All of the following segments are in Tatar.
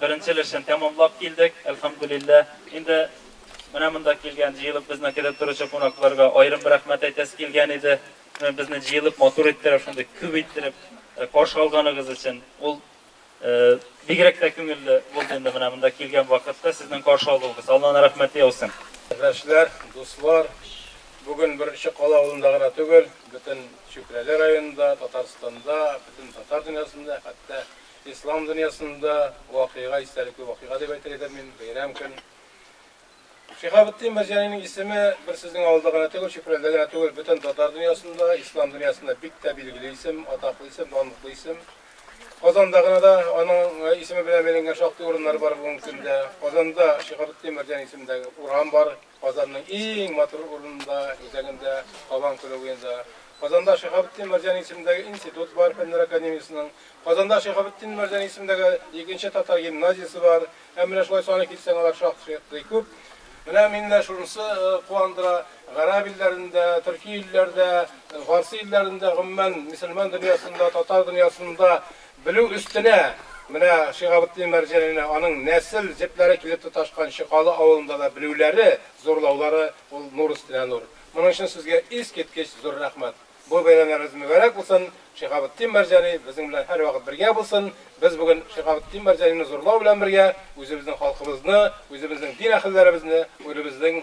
Беренче өлешен тәмамлап килдек, әлхәмдүлилләһ. Инде менә монда килгән, җыелып безне көтеп торучы кунакларга аерым бер рәхмәт әйтәсе килгән иде. Менә безне җыелып, матур иттереп, шундый күп иттереп каршы алганыгыз өчен. Ул бигрәк тә күңелле булды инде менә монда килгән вакытта сезнең каршы алуыгыз. Алланың рәхмәте яусын. Кардәшләр, дуслар, бүген бер Чокал авылында гына түгел, бөтен Чүпрәле районында, Татарстанда, бөтен татар дөньясында, хәтта Ислам дөньясында вакыйга, истәлекле вакыйга дип әйтер идем мин, бәйрәм көн. Шиһабетдин Мәрҗанинең исеме бер сезнең авылда гына түгел, Чүпрәлдә генә түгел, бөтен татар дөньясында, ислам дөньясында бик тә билгеле исем, атаклы исем, данлыклы исем. Казанда гына да аның исеме белән бәйләнгән шактый урыннар бар бүгенге көндә. Казанда Шиһабетдин Мәрҗани исемендәге урам бар. Казанның иң матур урынында, үзәгендә, Кабан күле буенда. Казанда Шиһабетдин Мәрҗани исемендәге институт бар, Фәннәр академиясенең. Казанда Шиһабетдин Мәрҗани исемендәге икенче татар гимназиясе бар. Һәм менә шулай саны килсәң, алар шактый күп. Менә мине шунысы куандыра, гарәп илләрендә, төрки илләрдә, фарсы илләрендә, гомумән, мөселман дөньясында, татар дөньясында Белү өстенә, менә Шиһабетдин Мәрҗанина аның нәсел җепләре килеп тоташкан Чокалы авылында да белүләре, зурлаулары, ул нур өстенә нур. Моның өчен сезгә искиткеч зур рәхмәт. Бу бәйрәмнәрегез мөбарәк булсын, Шиһабетдин Мәрҗани безнең белән һәрвакыт бергә булсын. Без бүген Шиһабетдин Мәрҗанины зурлау белән бергә, үзебезнең халкыбызны, үзебезнең дин әһелләребезне, үзебезнең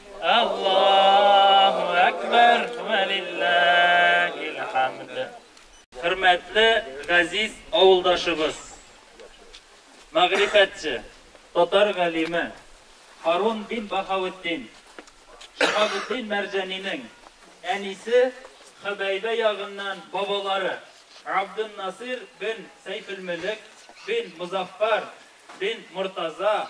Аллаһу әкбәр вә лилләһил хәмд. Хөрмәтле газиз авылдашыбыз, мәгърифәтче, татар галиме Харун бин Баһаветдин Шиһабетдин Мәрҗәнинең әнисе Хөбәйбә ягыннан бабалары Абденнасир бин Сәйфелмөлек бин Мозаффар бин Мортаза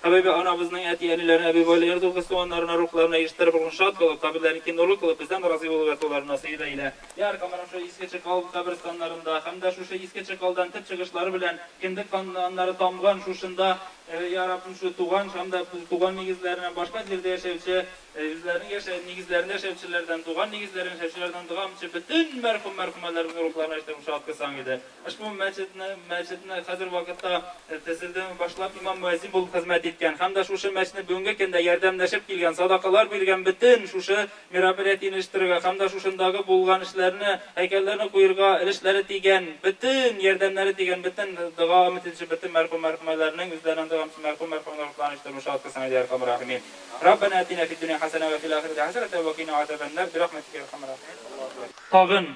Хәбибә анабызның әти-әниләренә, әби-бабайларына, дугыз-туганнарына, рухларына ирештереп булган шат булып, каберләрен киң нурлы кылып, бездән разый булып ятуларына сыеда илә. Йә Аркаманың шул Иске Чыкал каберстаннарында һәм дә шушы Иске Чыкалдан төп чыгышлары белән кендек каннары тамган шушында, йә Раббым, шул туган һәм дә туган нигезләреннән башка җирдә яшәүче Әҗетләрнең яшә нигезләрен яшәүчеләрдән, туган нигезләрен яшәүчеләрдән дога мчы бөтен мәрхүм-мәрхүмәләребезнең рухларына җитә мчы аткысаң иде. Ошбу мәчетне мәчетне хәзер вакытта тезелдән башлап имам-мөәзин булып хезмәт иткән һәм дә шушы мәчетне бүгенге көндә ярдәмләшеп килгән, садакалар биргән бөтен шушы мероприятиене оештырырга һәм дә шушындагы булган эшләрне, һәйкәлләрне куерга өлешләре тигән, бөтен ярдәмнәре тигән бөтен дога мтнчы бөтен мәрхүм-мәрхүмәләрнең үзләренең дога мчы мәрхүм-мәрхүмәләр рухларына җитә мчы аткысаң иде, ярхәмүр рәхимин. Раббана атина фид дөнья хәсәнә вә фил ахирәти хәсәнәтән вә кина азабән нар бирахмәтикә я әрхәмәр рахимин. Тагын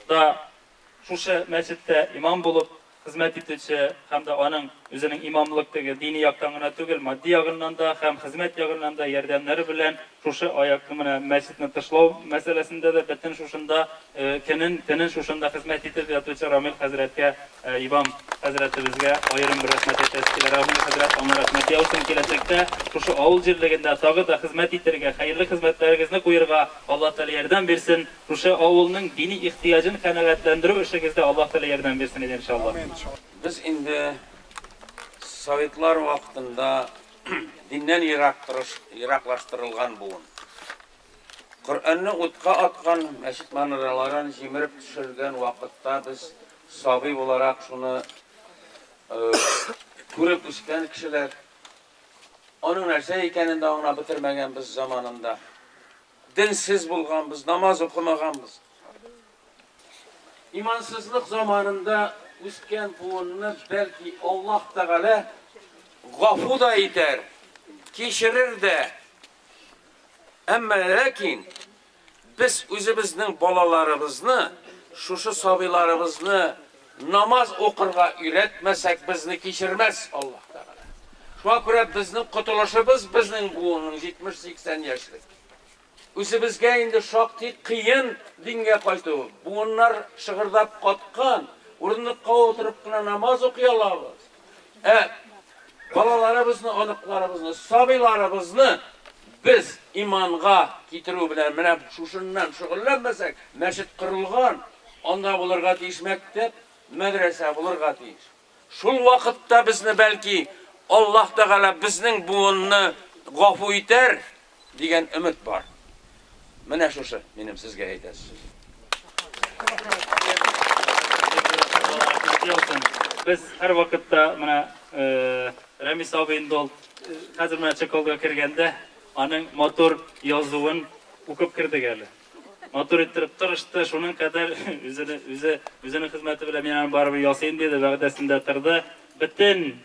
да шушы мәчеттә имам булып хезмәт итүче һәм дә аның үзенең имамлык теге дини яктан гына түгел, матди ягыннан да һәм хезмәт ягыннан да ярдәмнәре белән шушы аякны менә мәчетне тышлау мәсьәләсендә дә бөтен шушында Көнен, төнен шушында хезмәт итеп ятучы Рамил хәзрәткә, имам хәзрәтебезгә аерым бер рәхмәт әйтәсе килә. Рамил хәзрәт аңа рәхмәт яусын, киләчәктә шушы авыл җирлегендә тагы да хезмәт итәргә, хәерле хезмәтләрегезне куерга Аллаһ Тәгалә ярдәм бирсен, шушы авылның дини ихтыяҗын канәгатьләндерү эшегездә Аллаһ Тәгалә ярдәм бирсен иде, иншаллаһ. Без инде советлар вакытында диннән ерак торыш, ераклаштырылган буын. Коръәнне утка аткан, мәчет манараларын җимереп төшергән вакытта без сабый буларак шуны күреп үскән кешеләр. Аның нәрсә икәнен дә аңлап бетермәгәнбез заманында. Денсез булганбыз, намаз укымаганбыз. Имансызлык заманында үскән буынны бәлки Аллаһ Тәгалә гафу да итәр, кичерер дә. Әмма ләкин без үзебезнең балаларыбызны, шушы сабыйларыбызны намаз укырга өйрәтмәсәк, безне кичермәс Аллаһ Тәгалә. Шуңа күрә безнең котылышыбыз безнең буынның 70-80 яшьлек. Үзебезгә инде шактый кыен дингә кайту. Буыннар шыгырдап каткан, урындыкка утырып кына намаз укый алабыз. Ә балаларыбызны, оныкларыбызны, сабыйларыбызны без иманга китерү белән менә шушыннан шөгыльләнмәсәк, мәчет корылган, анда булырга тиеш мәктәп, мәдрәсә булырга тиеш. Шул вакытта безне бәлки Аллаһ Тәгалә безнең буынны гафу итәр. Дигән өмет бар. Менә шушы минем сезгә әйтәсе сүз. Без һәр вакытта менә Рәмис абый инде ул хәзер менә чеколга кергәндә аның матур язуын укып кердек әле. Матур иттереп тырышты, шуның кадәр үзе үзе үзенең хезмәте белән мин аны барыбер ясыйм диде, вәгъдәсендә торды. Бөтен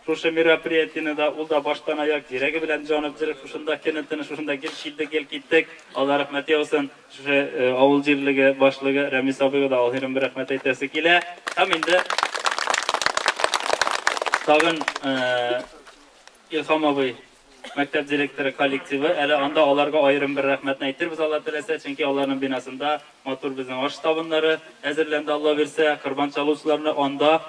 Шушы мероприятиене да ул да баштанаяк йөрәге белән җаны бетереп, шушында көнен-төнен, шушында гел килдек, гел киттек, Алла рәхмәт яусын. Шушы авыл җирлеге башлыгы Рәмис абыйга да аерым бер рәхмәт әйтәсе килә. Һәм инде тагын Илһам абый Мәктәп директоры коллективы, әле анда аларга аерым бер рәхмәтне әйтербез Алла теләсә, чөнки аларның бинасында матур безнең аш табыннары әзерләнде Алла бирсә, корбан чалучыларны анда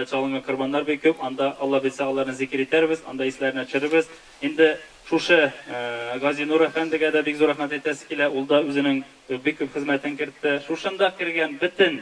чалынган корбаннар бик күп, анда Алла бирсә аларны зикер итәрбез, анда исләренә төшерербез. Инде шушы Газинур әфәндегә дә бик зур рәхмәт әйтәсе килә, ул да үзенең бик күп хезмәтен кертте. Шушында кергән бөтен